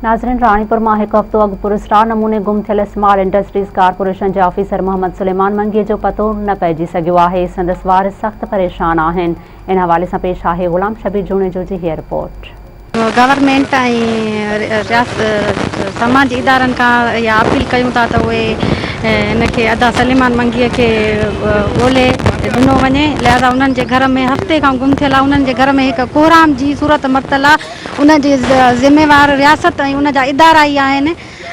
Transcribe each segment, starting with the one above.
ناظرين راڻيپور مان هڪ هفتو اڳ پراسرار نموني گم ٿيل اسمارٽ انڊسٽريز ڪارپوريشن جي آفيسر محمد سليمان منگي جو پتو نه پئجي سگهيو آهي سندس وارث سخت پريشان آهن ان حوالي سان پيش آهي غلام شبير جوڻيجو جي هيء رپورٽ. گورنمينٽ ۽ سماجي ادارن کان اها اپيل ڪيون ٿا ته اهي هن کي ادا سليمان منگي کي ڳولي ڏنو وڃي لهذا انهن جي گهر ۾ هفتي کان گم ٿيل آهي انهن جي گهر ۾ هڪ ڪهرام جي صورت مرتل آهي ان جي ذميوار رياست ۽ ان جا ادارا ئي آهن،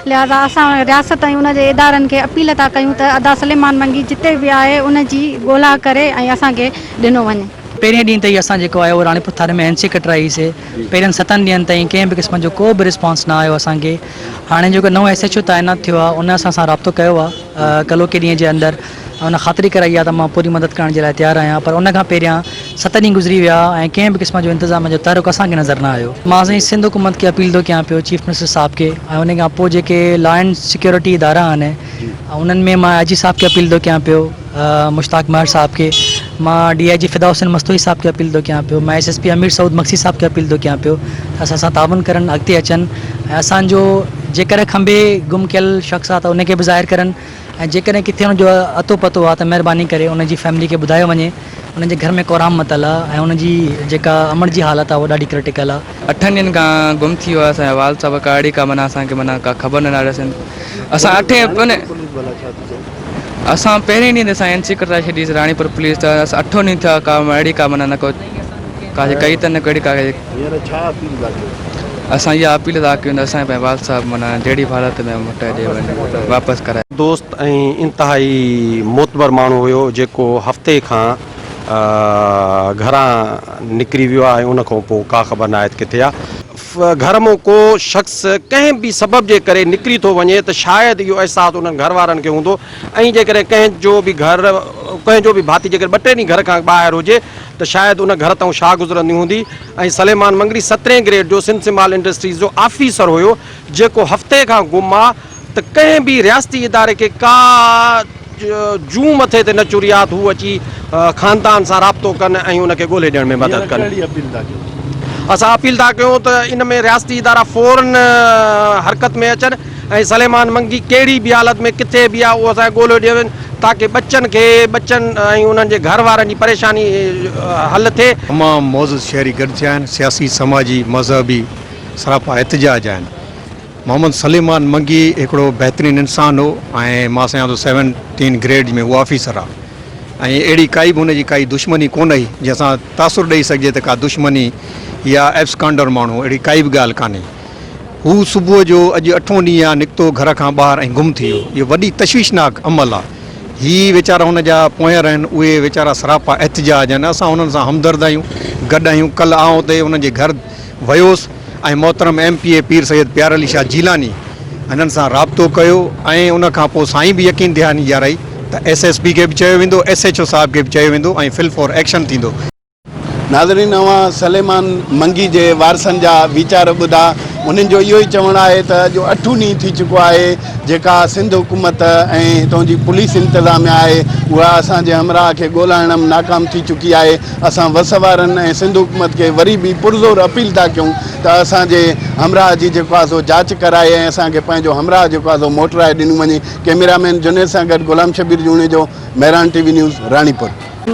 لهٰذا اسان رياست ۽ ان جي ادارن کي اپيل ٿا ڪيون ته ادا سليمان منگي جتي به آهي ان جي ڳولا ڪري ۽ اسان کي ڏنو وڃي. پهرين ڏينهن تي ئي اسان جيڪو آهي اهو راڻيپور ٿر ۾ اين سي ڪٽرائي سي، پهرين ستن ڏينهن تائين ڪنهن به قسم جو ڪو به رسپانس نه آيو اسان کي، هاڻي جيڪو نئون ايس ايڇ او تعينات ٿيو آهي ان اسان سان رابطو ڪيو آهي ڪلهوڪي ڏينهن جي اندر، هن خاطري ڪرائي آهي ته مان پوري مدد ڪرڻ جي لاء تيار آهيان پر ان کان پهريان ست ڏينهن گذري ويا ۽ ڪنهن به قسم جو انتظاميه جو تحرڪ اسان کي نظر نه آيو. مان سائين سنڌ حڪومت کي اپيل ٿو ڪيان پيو چيف منسٽر صاحب کي ۽ ان کان پوء جيڪي لا اينڊ سيڪيورٽي ادارا آهن انهن ۾ مان آء جي صاحب کي اپيل ٿو ڪيان پيو مشتاق مهر صاحب کي مان ڊي آء جي فدا حسين مستوئي صاحب کي اپيل ٿو ڪيان پيو مان S S P Amir Saud Magsi صاحب کي اپيل ٿو ڪيان پيو ته اسان سان تعاون ڪرن اڳتي اچن ۽ اسان جو جيڪڏهن کانبي گم ڪيل شخص آهي ته ان کي به ظاهر ڪرن ۽ جيڪڏهن ڪٿي ان جو اتو پتو آهي ته مهرباني ڪري ان جي فيملي کي ٻڌايو وڃي انهن جي گهر ۾ ڪورام متل آهي ۽ انهن جي جيڪا امڙ جي حالت آهي اها ڏاڍي ڪرٽيڪل آهي. اٺن ڏينهن کان گم ٿي ويو آهي اسان جو والد صاحب ڪا اڙي ڪا معنيٰ اسان کي معنيٰ ڪا خبر نه ڏاڙي اسان اسان اٺين پني اسان پهرين ڏينهن تي اسان اين سي ڪٽرائي ڇڏي سي راڻيپور پوليس ته اسان اٺون ڏينهن ٿيا ڪا اڙي ڪا معنيٰ نه ڪو ڪا جي ڪئي ته نه ڪهڙي ڪا هينئر ڇا اپيل ٿا ڪيو؟ اسان اها اپيل ٿا ڪيون ته اسان کي پنهنجي والد صاحب معنيٰ جهڙي به حالت ۾ هو موٽائي ڏي وڃي واپس ڪرائي. دوست ۽ انتهائي معتبر ماڻهو هيو جيڪو هفتي کان گهران نڪري ويو آهي ۽ ان کان پوء ڪا خبر ناهي ته ڪٿي آهي. گهر مون ڪو شخص ڪنهن به سبب جي ڪري نڪري ٿو وڃي ته شايد اهو احساس انهن گهر وارن کي هوندو ۽ جيڪڏهن ڪنهن جو به گهر ڪنهن جو به ڀاتي جيڪڏهن ٻه ٽي ڏينهن گهر کان ٻاهر هجي ته شايد ان گهر تئون شاهه گذرندي هوندي ۽ سليمان مڱري سترهين گريڊ جو سنڌ مال انڊسٽريز جو آفيسر هيو جيڪو هفتي کان گم آ ته ڪنهن به رياستي اداري کي ڪا جون مٿي تي نه چري آ ته هو اچي خاندان سان رابطو ڪن ۽ ان کي ڳولهي ڏيڻ ۾ مدد ڪن. اسان اپيل ٿا ڪيون ته ان ۾ رياستي ادارا فورن حرڪت ۾ اچن. ۽ سليمان منگي ڪهڙي به حالت ۾ ڪٿي به آهي اهو اسان کي ڳولهيو ڏيو وڃي تاڪه ٻچن کي ٻچن ۽ انهن جي گهر وارن جي پريشاني حل ٿئي. تمام معزز شهري گڏ ٿيا آهن، سياسي، سماجي، مذهبي سراپا احتجاج آهن. محمد سليمان منگي هڪڙو بهترين انسان هو ۽ مان سمجهان ٿو سيونٽين گريڊ ۾ هو آفيسر آهي ۽ اهڙي ڪائي به هن جي ڪائي دشمني ڪونه هئي جنهن سان تاثر ڏئي سگهجي ته ڪا دشمني يا ابسڪانڊر ماڻهو اهڙي ڪائي به ڳالهه ڪانهي. هو صبح جو اڄ اٺون ڏينهن آ نڪتو گهر کان ٻاهر ۽ گم ٿي ويو. اهو وڏي تشويشناڪ عمل آ. هي ويچارا هن جا پونئر آهن. اهي ويچارا سراپا احتجاج آهن. اسان انهن سان همدرد آهيون. گڏ آهيون. ڪلهه آئون اتي انهن جي گهر ويوس ۽ محترم M P A Pir Syed پيار علي شاهه جيلاني هنن سان رابطو ڪيو ۽ ان کان پوء سائين به يقين دهاني ڏيارائي ته ايس ايس پي کي به چيو ويندو ايس ايڇ او صاحب کي به چيو ويندو ۽ فل فور ايڪشن ٿيندو. ناظرين اوهان سليمان منگي جي وارثن جا ويچار ٻڌا انهن جو اهو ئي چوڻ آهي ته اڄ اٺون ڏينهن ٿي چڪو آهي جيڪا سنڌ حڪومت ۽ هتون جي پوليس انتظاميا آهي اها اسان جي همراهه کي ڳولائڻ م ناڪام ٿي چڪي آهي اسان وس وارن ۽ سنڌ حڪومت کي وري به پرزور اپيل ٿا ڪيون ته اسان جي همراهه جي جيڪو آهي سو جاچ ڪرائي ۽ اسان کي پنهنجو همراهه جيڪو آهي سو موٽرائي ڏنو وڃي ڪيميرا مين جنيد سان گڏ Ghulam Shabbir Junejo Mehran T V news Ranipur.